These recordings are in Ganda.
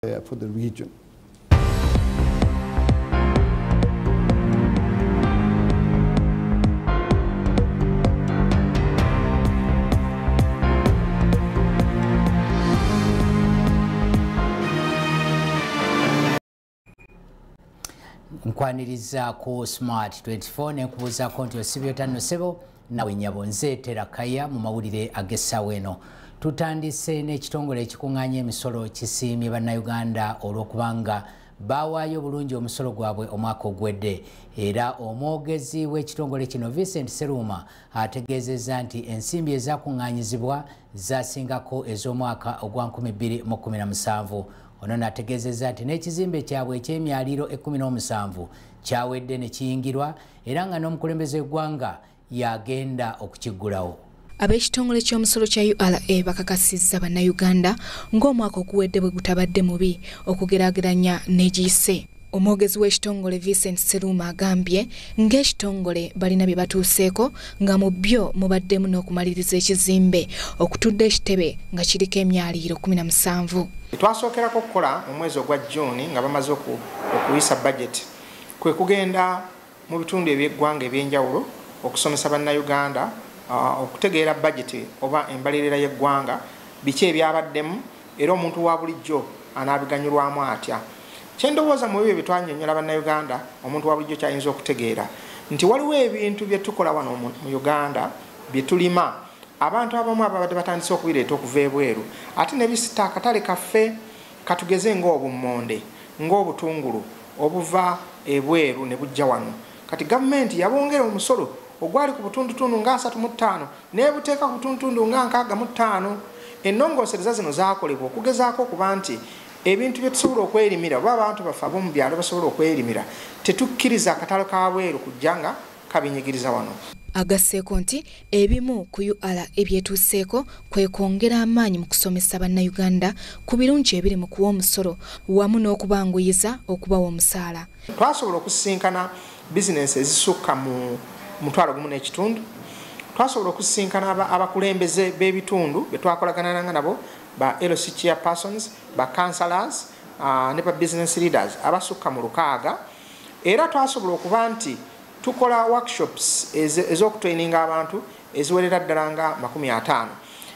uh, for the region. nkwaniriza ku smart 24 nekubuuzako nti osibyotanno sebo nawe nyabo nze terakaya mu mawulire ag'essaawa eno tutandise n'ekitongole ekikuŋŋaanya emisolo kisiimye bannayuganda olw'okubanga baawaayo obulungi omusolo gwabwe omwaka ogwedde era omwogezi w'ekitongole kino vincent seruuma ategeezezza nti ensimbi ezakuŋŋaanyizibwa zasingako ez'omwaka ogwa 2017 ono nategeezezza nti n'ekizimbe kyabwe eky'emyaliiro 17 kyawedde ne kiyingirwa era nga n'omukulembeze w'eggwanga y'agenda okukiggulawo ab'ekitongole ky'omusolo kya ura bakakasizza bannayuganda ng'omwaka oguwedde bwe gutabadde mubi okugeraageranya n'egiyise omwogezi w'ekitongole vincent seruuma agambye ng'ekitongole balina bye batuuseeko nga mu byo mubaddemu n'okumaliriza ekizimbe okutudde ekitebe nga kiriko emyaliiro 17 twasookerako okukola mu mwezi ogwa juuni nga bamaze okuyisa bajeti kwe kugenda mu bitundu eby'eggwanga eby'enjawulo okusomesa bannayuganda uh, okutegeera bajeti oba embalirira y'eggwanga biki ebyabaddemu era omuntu wa bulijjo anaabiganyulwamu atya kyendowooza mu ebyo byetwanyonyola bannayuganda omuntu wa bulijjo kyayinza okutegeera nti waliwo ebintu bye tukola wano mu uganda bye tulima abantu abamu ababadde batandise okubireeta okuva ebweru ate nebisita akatale kaffe Katugeze ng'obummonde, ng'obutungulu obuva ebweru ne bujja wano. Kati gavumenti yabongera omusolo ogwali ku butundutundu nga asatu mu ttaano n'ebuteeka ku butundutundu nga nkaaga mu ttaano. Ennongoosereza zino zaakolebwa okugezaako okuba nti ebintu bye tusobola okwerimira oba abantu baffe ab'omu byalo basobola okwerimira tetukkiriza katale ka bweru kujja nga kabinyigiriza wano agasseeko nti ebimu ku ura ebyetuuseeko kwe kwongera amaanyi mu kusomesa bannayuganda ku birungi ebiri mu kuwa omusolo wamu n'okubanguyiza okubawa omusaala twasobola okusisinkana bizinensi ezisukka mu mutwalo gumu n'ekitundu twasobola okusisinkana abakulembeze b'ebitundu be twakolaganananga nabo ba lc chair persons ba councilors ah, ne ba business leaders abasukka mu lukaaga era twasobola okuba nti tukola workshops ez'okutraininga abantu eziwerera ddala nga 5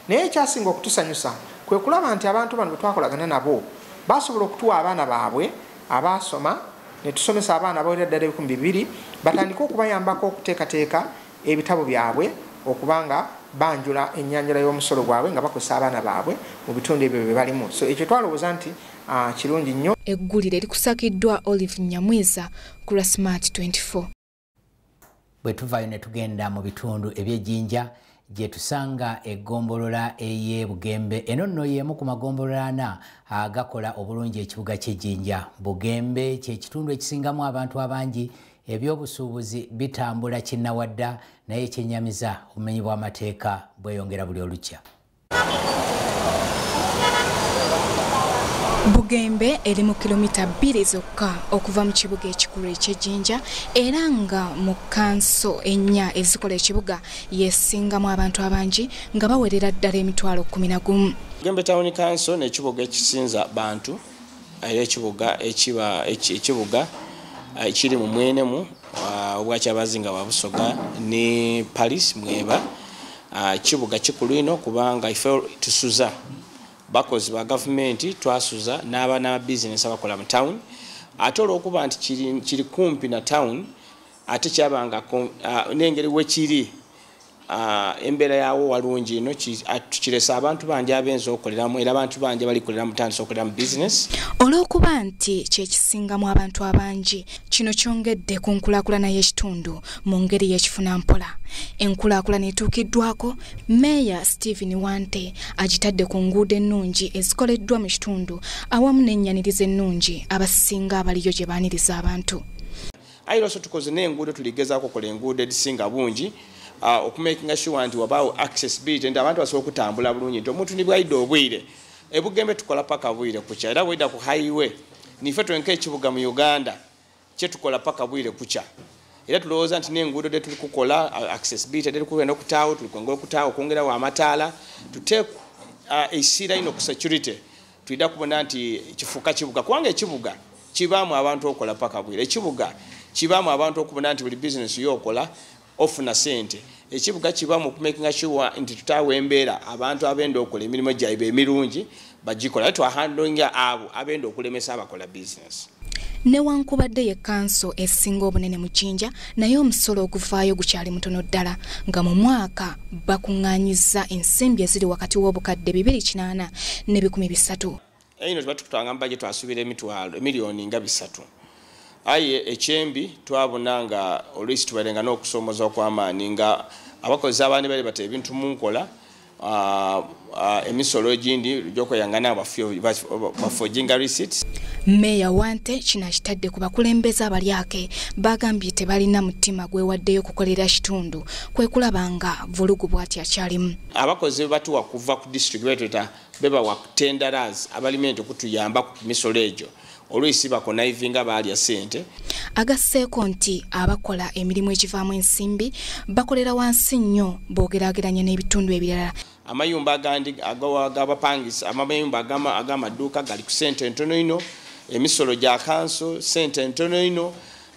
naye ekyasinga okutusanyusa kwe kulaba nti abantu bano bwe twakolagana nabo basobola okutuwa abaana baabwe abaasoma ne tusomesa abaana abawerera ddala ebikumi bibiri batandike okubayambako okuteekateeka ebitabo byabwe okuba nga banjula ennyanjula y'omusolo gwabwe nga bakozesa abaana baabwe mu bitundu ebyo bye balimu so ekyo twalowooza nti Ah, kirungi nnyo eggulire likusakiddwa olive nyamwiza ku lwa smart 24 bwe tuvaayo ne tugenda mu bitundu eby'ejjinja gye tusanga eggombolola ey'e bugembe eno nno y'emu ku magombolola ana agakola obulungi ekibuga ky'ejjinja bugembe kye kitundu ekisingamu abantu abangi ebyobusuubuzi bitambula kinnawadda naye ekyennyamiza obumenyi bw'amateeka bweyongera buli olukya Bugembe eri mu kilomita bbiri zokka okuva mu kibuga ekikulu eky'e Jinja era nga mu kkanso ennya ezikola ekibuga y'esingamu abantu abangi nga bawerera ddala emitwalo kkumi na gumu. Bugembe Town Council n'ekibuga ekisinza bantu era ekibuga ekibuga ekiri mu mwenemu obwakyabazinga wa busoga ne paris mweba kibuga kikulu ino kubanga ife tusuza bakozi ba gavumenti twasuza n'abaana ba bizinesi abakola mu town ate olwokuba nti kiri kumpi na town ate kyabanga nengeri wekiri Ah, embeera yawo walungi ino ah, tukiresa abantu bangi abenza okoleramu era abantu bangi balikolera mutandisa okolera mu bizinesi olw'okuba nti kyekisingamu abantu abangi kino kyongedde ku nkulakulana y'ekitundu mu ngeri y'ekifuna mpola enkulakulana etuukiddwako meeya stephen wante agitadde ku nguudo ennungi ezikoleddwa mu kitundu awamu n'ennyaniriza ennungi abasinga abaliyo gye baaniriza abantu ayi lwaso tukoze n'enguudo tuligezaako okola enguudo edisinga bungi ah, okumakinga sure nti wabaawo accessibility nti abantu basobola okutambula bulungi nti omuntu nibwaidde obwire ebugembe tukola paka bwire kukya era bweda ku highway nife twenka ekibuga mu uganda kyetukola paka bwire kukya era tulowooza nti n'enguudo de tuli kukola accessibility de tukuenda okutaawo tulikwongera okutaawo okwongerawo amataala tuteeku uh, esiira ino ku security Tulina kubona nti kifuuka kibuga kubanga ekibuga kibaamu abantu okola paka bwire ekibuga kibaamu abantu okubona nti buli bizinesi yo okola ofuna sente ekibuga kibaamu okumakinga sure nti tutaawa embeera abantu abenda okola emirimu gyaibwe emirungi bagikola aye twahandinga abo abenda okulemesa abakola bizinesi newankubadde ye kanso esinga obunene mu jinja naye omusolo oguvaayo gukyali mutono ddala nga mu mwaka bakuŋŋanyiza ensimbi eziri wakati w'obukadde 280 ne 13 eno tuba tukutanga mubaje twasubira emitwalo emiliyoni nga bisatu aye ekyembi twabona nga oluisi tubarenga n'okusoomoza okw'amaanyi nga abakozesa abaani bali bata ebintu mu nkola Ah, ah, emisolo egindi gyokweyangana bafojinga receipt meeya wante kino akitadde ku bakulembeze abalyake bagambye tebalina mutima gwewaddeyo okukolera kitundu kwekulaba nga vulugu bwati akyalimu abakozi bebatuwa kuva ku district betweta bebawa tenderas abalimenti okutuyamba ku misolo egyo olwisi bakonayivinga baalya ssente agasseeko nti abakola emirimu egivaamu ensimbi bakolera wansi nnyo boogeraageranya n'ebitundu ebirala amayumba agandi agabapangisa amayumba ag'amaduuka gali ku ssente entono ino emisolo gya kanso ssente entono ino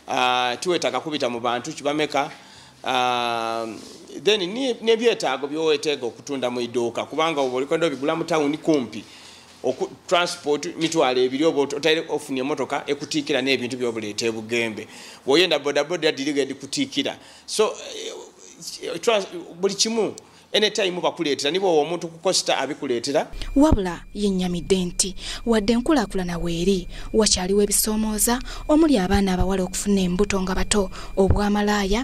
ah, tiwetaaga kubita mu bantu kibameka ah, then nebyetaago byoweteega okutunda mu iduuka kubanga oba olikondo bigula mu tawuni kumpi oku transport mitwalo ebiri oba otaire ofuna emotoka ekutiikira n'ebintu byobuleeta ebugembe woyenda bodaboda diriga edikutiikira so eh, buli kimu anytime bakuleetera niba owo omuntu kukosita abikuleetera wabula yennyamidde nti wadde enkulaakulana weeri wakyaliwo ebisoomooza omuli abaana abawala okufuna embuto nga bato obwamalaaya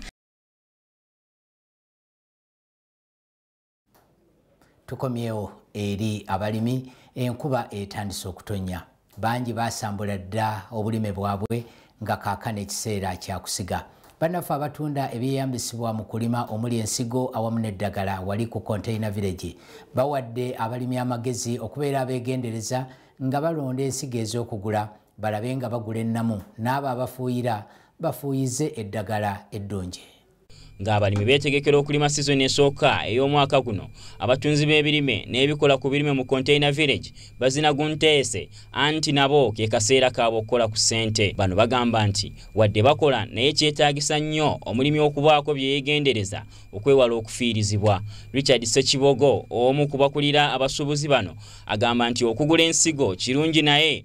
tukomyewo eri abalimi enkuba etandise okutonya bangi basambula dda obulime bwabwe nga kaakano ekiseera kyakusiga bannaffe abatunda ebyeyambisibwa mu kulima omuli ensigo awamu n'eddagala wali ku containa village bawadde abalimi amagezi okubeera abeegendereza nga balonda ensigo ez'okugula balabe nga bagula ennamu n'abo abafuuyira bafuuyize eddagala eddungi ng'abalimi beetegekera okulima sizoni esooka ey'omwaka guno abatunzi b'ebirime n'ebikola ku birime mu container village bazina gunteese anti nabo ke kaseera kaabwe okukola ku ssente bano bagamba nti wadde bakola naye kyetaagisa nnyo omulimi okubaako bye yeegendereza okwewala okufiirizibwa richard sekibogo omu ku bakulira abasuubuzi bano agamba nti okugula ensigo kirungi naye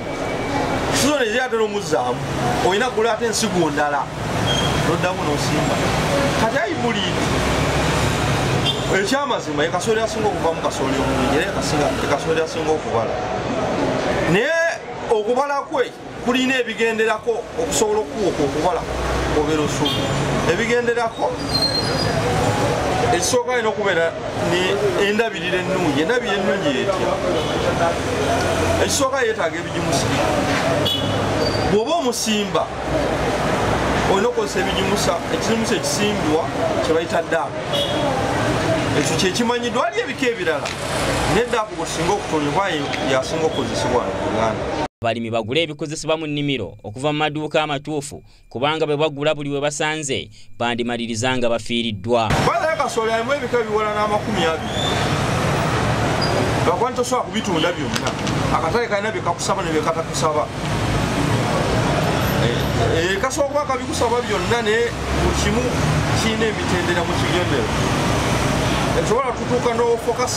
sizoni ezira ate nomuzzaamu olina kula ate ensigo ndala noddamu nosimba kati ayi muli ekyamazima ekasooli asinga okuvamu kasooli omulungi era ekasooli asinga okubala naye okubala kwe kulina ebigenderako okusobola okuwuka okubala obeera osuumu ebigenderako ekisooka alina okubeera endabirira ennungi endabirira ennungi yetya ekisooka yetaaga ebigimusa bw'oba omusimba olina okozesa ebigimusa ekizimusa ekisimbwa kyebayita daabu ekyo kyekimanyiddwa ali ebika ebirala naye daabu gwetusinga okutondebwa yasinga okukozesebwa mu uganda abalimi bagule ebikozesebwa mu nnimiro okuva mu maduuka amatuufu kubanga bwe bagula buli we basanze bandimaliriza nga bafiiriddwa kasolo alimu ebika ebiwala n'amakumi abiri gakwani tosobola kubitunda byonna akatale kalina byekakusaba nebyekatakusaba eh, eh, kasobola kuba kabikusaba byonna naye kimu kirina emitendera mu kigendero esobola tutuuka n'ofokas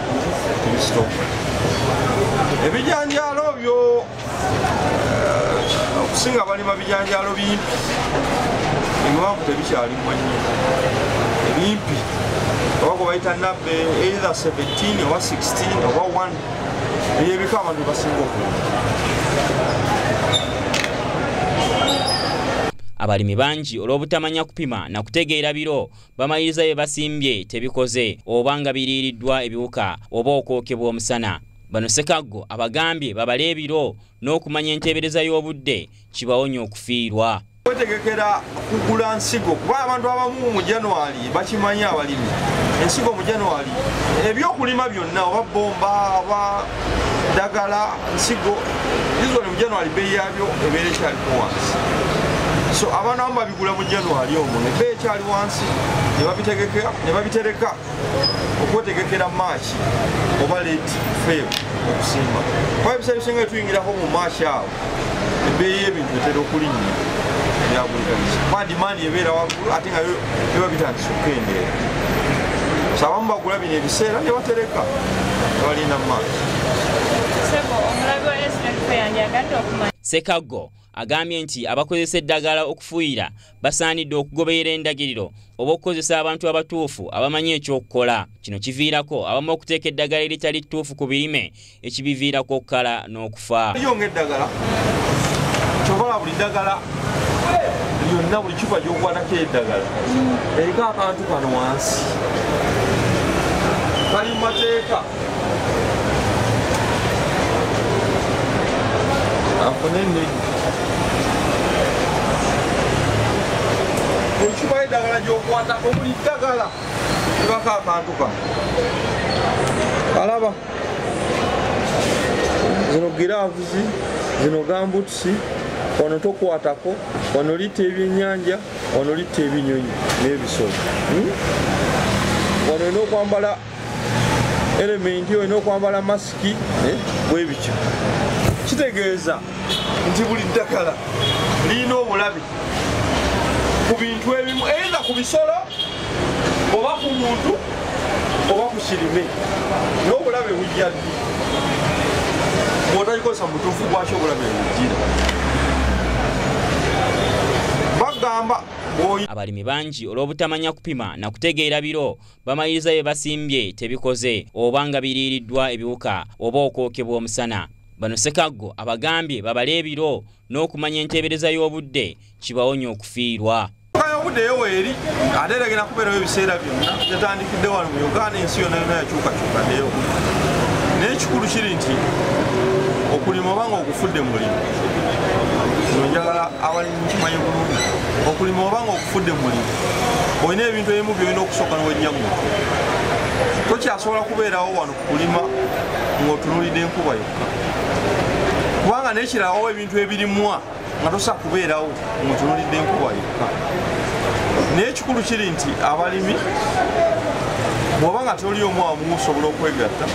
kristo ebijanjaalo byo eh, okusinga balima bijanjaalo bimpi ebiwanvu tebikyalimwa nnyo ebimpi oba gwe bayita nabbe either 17 oba 16 oba 1 ebyo ebika abantu basinga okulima abalimi bangi olw'obutamanya kupima na kutegeera biro bamaliriza bye basimbye tebikoze oba nga biriiriddwa ebiwuka oba okwokebwa omusana bano sekaggo abagambye babale ebiro n'okumanya enteebereza y'obudde kibawonya okufiirwa kwetegekera kugula nsigo kuba abantu abamu mu january bakimanyi abalimi ensigo mu january ebyokulima byonna oba bomba oba dagala nsigo usually mu january beeyi yabyo ebeera ekyaliko wansi so abaana bamu babigula mu january omwo ne beeyi ekyali wansi ne babitereka okwetegekera maaki oba late feb okusimba kuba ebiseera ebisinga tuyingirako mu maaki awo ebeeyi y'ebintu etera okulinnya byabulikaliza kuba dimaandi ebeera waggulu ate nga biba bitandisa okukendeera so abamu bagula bino ebiseera ne batereka ne balinda maaki Sekago agambye nti abakozesa eddagala okufuuyira basaanidde okugoberera endagiriro oba okukozesa abantu abatuufu abamanyi ekyokukola kino kiviirako abamu okuteeka eddagala eritali ttuufu ku birime ekibiviirako okukala n'okufa yonna buli kifa gyokwanako eddagala eriko akantu kano wansi kali mu mateeka okibayo eddagala gyokwata omuli ddagala ibako akantu kano alaba zino giravuzi zino gambutusi wano tokwatako wano litta ebyenyanja wano litta ebinyonyi n'ebisolo hmm? wano olina okwambala elementi olina okwambala masiki eh? bwebityo kitegeeza nti buli ddagala lirina obulabe ku bintu ebimu enda ku bisolo oba ku muntu oba ku kirime n'obulabe bujja ddi bwotagikozesa mutuufu gwaki obulabe bujjira bagamba abalimi bangi olw'obutamanya kupima na kutegeera biro bamaliriza bye basimbye tebikoze oba nga biriiriddwa ebiwuka oba okwokebwa omusana bano sekaggo abagambye babale ebiro n'okumanya enteebereza y'obudde kibawonya okufiirwa obuddeyo weeri ate era genda kubeerawo ebiseera byonna yatandikidde wano mu uganda ensi yonna yonna yakyukakyuka ddeyo naye ekikulu kiri nti okulima obanga ogufudde mulimu njagala awali okumanya obulungi okulima oba nga okufudde mulimu olina ebintu ebimu byolina okusooka nowejja mu tokyasobola kubeerawo wano kukulima ng'otunulidde enkuba yokka kubanga nekirawo ebintu ebirimwa nga tosobola kubeerawo ng'otunulidde enkuba yokka naye ekikulu kiri nti abalimi bwoba nga toli omu amu osobola okwegatta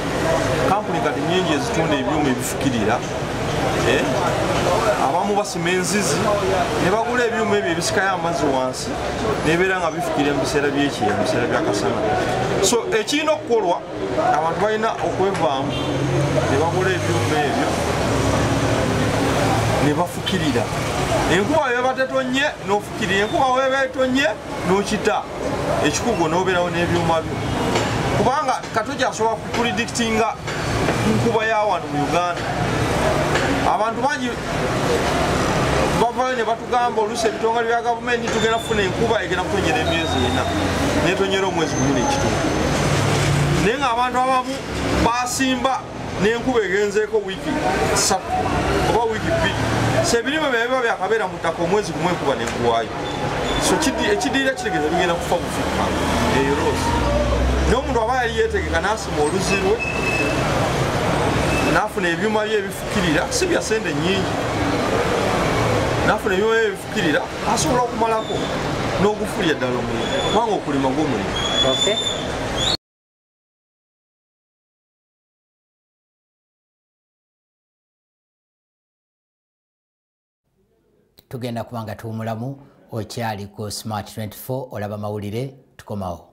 kampuni kati nyingi ezitunda ebyuma ebifukirira eh, abamu basima enzizi ne bagula ebyuma ebyo ebisikayo amazzi wansi nebeera nga bifukira mu biseera byekyeya mu biseera byakasana so ekirina okukolwa abantu balina okwevaamu ne bagula ebyuma ebyo ne bafukirira enkuba weba tetonye n'ofukirira enkuba weba etonye n'okita ekikugu nobeerawo n'ebyuma byo kubanga katoja asobola kupredikitinga nkuba ya wano mu uganda abantu bangi bavayo ne batugamba oluusi ebitongole bya gavumenti tugenda kufuna enkuba egenda kutonyera emyezi ena netonyera omwezi gumu nekitundu naye ngaabantu abamu basimba n'enkuba egenzeeko wiiki ssatu oba wiiki bbiri so ebirime bye biba byakabeera mu ttaka omwezi gumu enkuba nenkuwaayo so ekidiira kitegeeza bigenda kufa bufukka eyo rose n'omuntu aba yali yeetegeka n'asima oluzi lwe n'afuna ebyuma bye ebifukirira si bya sente nnyingi n'afuna ebyuma bye ebifukirira asobola okumalako n'ogufulira ddala omulimu kubanga okulima gw'omulimu tugenda kuba nga tuwumulamu okyali ku smart 24 olaba mawulire tukomawo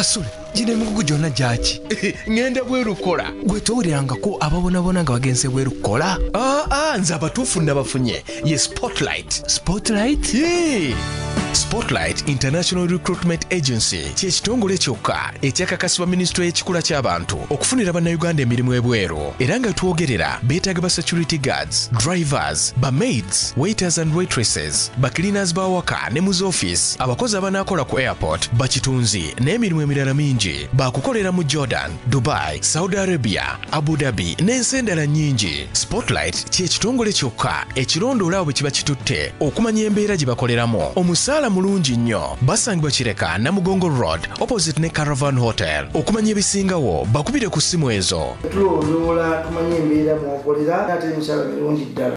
kasule gino emigugu gyonna gyaki ŋŋenda bweru kukola gwe towulirangako ababonabona nga bagenze bweru kukola aa ah, ah, nze abatuufu nabafunye ye spotlight spotlight spotlight international recruitment agency ky'ekitongole kyokka ekyakakasibwa minisitule y'ekikula ky'abantu okufunira bannayuganda emirimu ebweru era nga twogerera beetaaga ba security guards drivers ba maids waiters and waitresses ba cleaners b'awaka ne mu z'office abakozi abanaakola ku airport bakitunzi n'emirimu emirala mingi baakukolera mu jordan dubai saudi arabia Abu Dhabi n'ensi endala nnyingi. Spotlight kye kitongole kyokka ekirondoola abo bwe kiba kitutte okumanya embeera gye bakoleramu. Omusaala mulungi nnyo. Basangibwa Kireka, Namugongo Road, opposite ne Caravan Hotel. Okumanya ebisingawo, bakubire ku ssimu ezo. Tulondoola tumanye embeera mw'okolera ate emisaala mirungi ddala.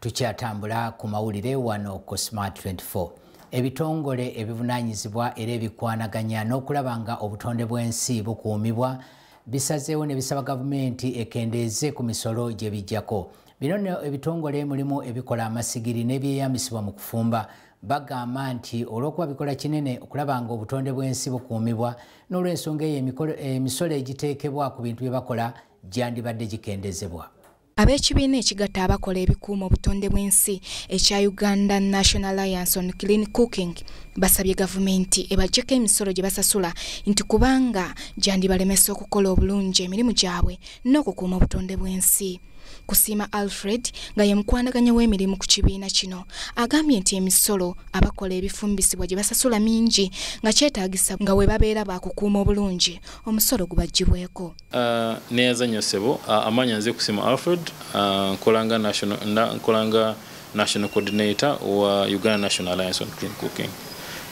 tukyatambula ku mawulire wano ku smart 24 ebitongole ebivunanyizibwa era ebikwanaganya n'okulaba nga obutonde bw'ensi bukuumibwa bisazeewo ne bisaba gavumenti ekendeeze ku misolo gye bijjako bino no ebitongole mulimu ebikola amasigiri n'ebyeyambisibwa mu kufumba bagamba nti olw'okuba bikola kinene okulaba nga obutonde bw'ensi bukuumibwa n'olw'ensonga eyo emisolo egiteekebwa ku bintu bye bakola gyandibadde gikendezebwa Ab'ekibiina ekigatta abakola ebikuuma obutonde bw'ensi ekya Uganda National Alliance on Clean Cooking basabye gavumenti ebajjeko emisolo gye basasula nti kubanga gyandibalemesa okukola obulungi emirimu gyabwe n'okukuuma obutonde bw'ensi. Kusiima Alfred nga ye mukwanaganya w'emirimu ku kibiina kino agambye nti emisolo abakola ebifumbisibwa gye basasula mingi nga kyetaagisa nga we babeera baakukuuma obulungi omusolo gubaggyibweko. Uh, neyaza nyo sebo uh, amanya nze kusima alfred uh, nkolanga national na, nkolanga national coordinator wa uganda national alliance on clean cooking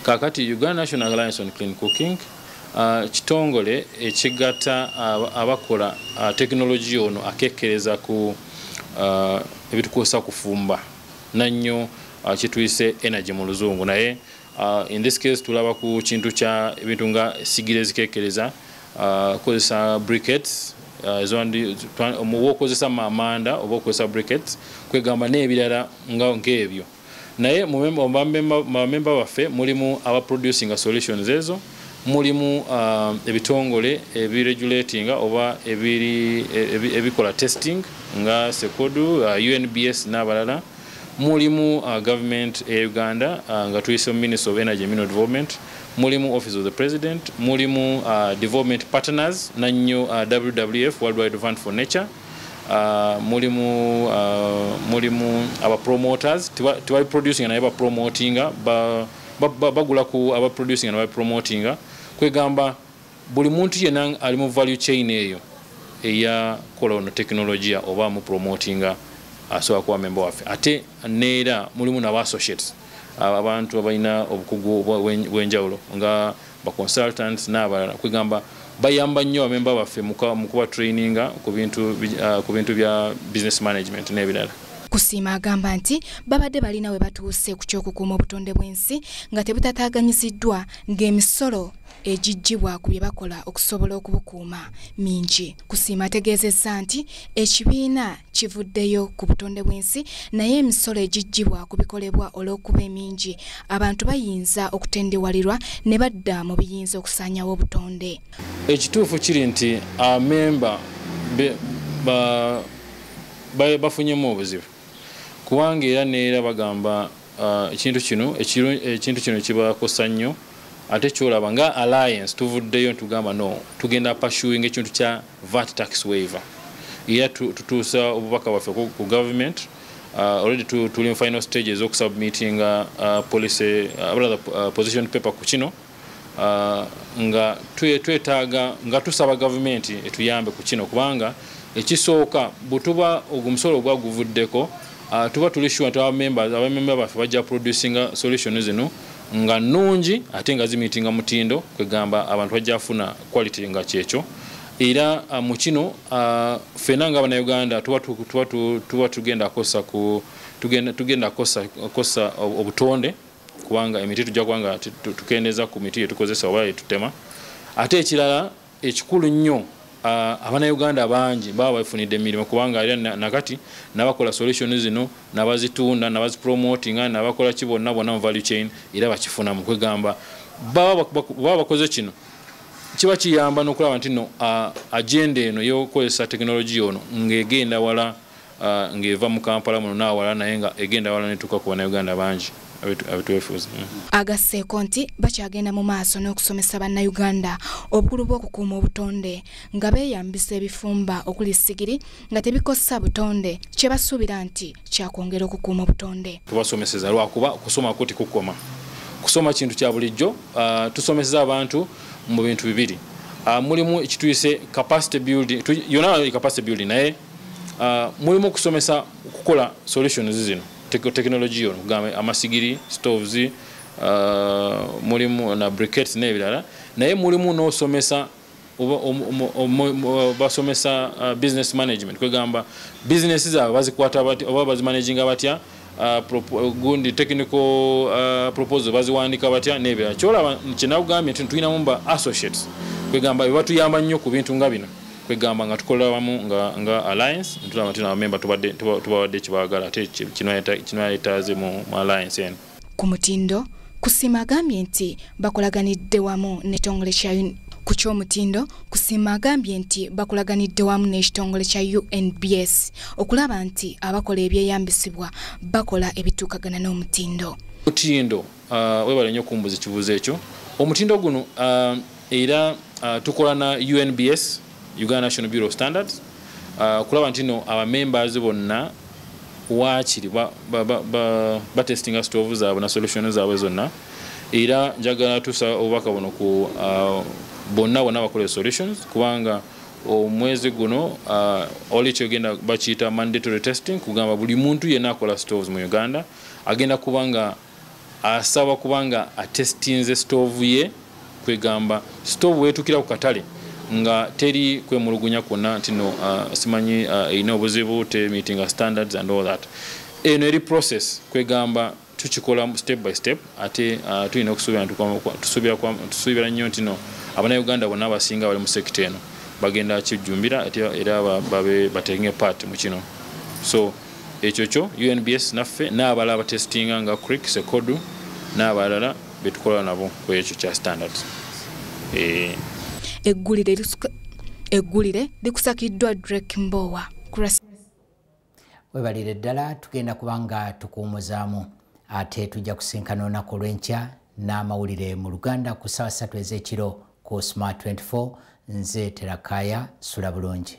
kakati uganda national alliance on clean cooking uh, kitongole ekigata uh, abakola uh, tekinologiya ono akekereza ku uh, ebitukozesa kufumba nannyo uh, kituyise energy mu luzungu naye Uh, in this case tulaba ku kintu kya ebintu nga sigire zikekereza uh, kozesa briquettes uh, ezwandi omuwa okozesa mamanda oba okozesa briquettes kwegamba n'ebirala nga nk'ebyo naye mubamemba baffe mulimu aba producing solutions ezo mulimu uh, ebitongole ebiregulatinga oba ebikola testing nga sekodu uh, unbs n'abalala mulimu uh, government eya uganda uh, nga tuyise mu minister of energy mineral development mulimu office of the president mulimu uh, development partners nanyo uh, wwf worldwide fund for nature uh, mulimu uh, mulimu aba promoters tibali producing naye bapromotinga bagula ba, ba, ba ku aba producing naye bapromotinga kwegamba buli muntu yena ali mu value chain eyo eya kola ono tekinologiya oba mu promotinga asobola kuba memba waffe ate neera mulimu naba associates abantu abalina obukugu bwenjawulo nga ba consultants n'abalala kwegamba bayamba nnyo bamemba baffe mu kuba traininga ku bintu uh, bya business management n'ebirala kusiima agamba nti babadde balina we batuuse ku ky'okukuuma obutonde bw'ensi nga tebutataaganyiziddwa ng'emisolo egiggyibwa ku bye bakola okusobola okubukuuma mingi kusiima ategeezezza nti ekibiina kivuddeyo ku butonde bw'ensi naye emisolo egiggyibwa ku bikolebwa olw'okuba emingi abantu bayinza okutendewalirwa ne badda mu biyinza okusaanyawo obutonde ekituufu kiri nti amemba bafunyemu obuzibu kubanga era neera bagamba uh, ekintu kino ekintu kino kibakosa nnyo ate kyolaba nga alliance tuvuddeyo ntugamba no tugenda pursuing ekintu kya vat tax waiver era tutuusa obubaka bwaffe ku government uh, already tuli mu final stage ez'okusubmittinga uh, policy uh, rather, uh, position paper ku kino nga twetaaga nga tusaba gavumenti etuyambe ku kino kubanga ekisooka bwetuba ogwo omusolo ogwa guvuddeko ah, tuba tuli sure nti abamemba baffe bajja producinga solution zino nga nnungi ate nga zimiitinga mutindo kwegamba abantu bajja funa quality nga kyekyo era ah, mu kino ah, ffena nga abanauganda tuba tugenda kosa obutonde kubanga emiti tujja kuba nga tukendeeza ku miti yetukozesa oba yetutema ate ekirala ekikulu nnyo abanauganda bangi baba bafunidde emirimu kubanga era nakati nabakola solution zino nabazitunda nabazipromotinga nabakola ki bonna bonna mu value chain era bakifunamu kwegamba baba bakoze kino kiba kiyamba nokulaba nti no agenda eno yokukozesa tekinologiya ono ng'egenda wala uh, ng'eva mu kampala muno n'awala naye nga egenda wala netuuka ku bannayuganda bangi abitwefuza mm. agasseeko nti bakyagenda mu maaso n'okusomesa bannayuganda obukulu bw'okukuuma obutonde nga beeyambisa ebifumba okuli sigiri nga tebikosa butonde kye basuubira nti kyakwongera okukuuma obutonde tubasomeseza lwakuba okusoma kuti kukoma kusoma kintu kya bulijjo uh, tusomeseza abantu mu bintu bibiri uh, mulimu ekituyise capacity building yona capacity building naye uh, mulimu okusomesa okukola solutions zino technology yono kugamba amasigiri stoves uh, mulimu na briquettes n'ebirala naye mulimu n'osomesa basomesa uh, business management kwegamba business zaabwe bazikwata oba bazimanaginga batya uh, gundi technical uh, proposal baziwandika batya nebirala kyolaba kyenakugambye nti tulinamu ba associates kwegamba bebatuyamba nnyo ku bintu nga bino kwegamba nga tukola wamu nga nga alliance ntulaba tuna member tubadde tubadde kibagala ate kino yata kino yataze mu alliance en ku mutindo kusima agambye nti bakolaganidde wamu ne tongole kya ku ky'omutindo kusima agambye nti bakulaganidde wamu n'ekitongole kya unbs okulaba nti abakola ebyeyambisibwa bakola ebituukagana n'omutindo mutindo Uh, webale nyo kumbuza ekibuzo ekyo omutindo guno uh, era uh, tukola na unbs uganda national bureau of standards uh, kulaba nti no abamembers bonna wakiri batestinga ba, ba, ba stove zaabwe na solution zaabwe zonna era njagala tusa obubaka buno ku uh, bonna bonna bakola solutions kubanga omwezi guno uh, oli kyogenda bakiyita mandatory testing kugamba buli muntu yenna akola stoves mu uganda agenda kubanga asaba kubanga atestinze stoovu ye kwegamba stoovu wetukira ku katale nga teri kwemulugunya kwonna nti no uh, simanyi uh, erina obuzibu te meeting standards and all that eno eri process kwegamba tukikola step by step ate uh, tulina okusuubira nnyo nti no abanauganda bonna abasinga bali mu sekita eno bagenda kijjumbira era babe batenge part mu kino so ekyo kyo unbs naffe n'abala abatestinga nga crick sekodu n'abalala betukola nabo ku ekyo kya standard eh. eggulire likusakiddwa drek mbowa webalire ddala tugenda kubanga tukuwumuzaamu ate tujja kusinkana olunaku olwenkya n'amawulire mu luganda ku ssaawa ssatu ez'ekiro ku smart 24 nze terakaya sula bulungi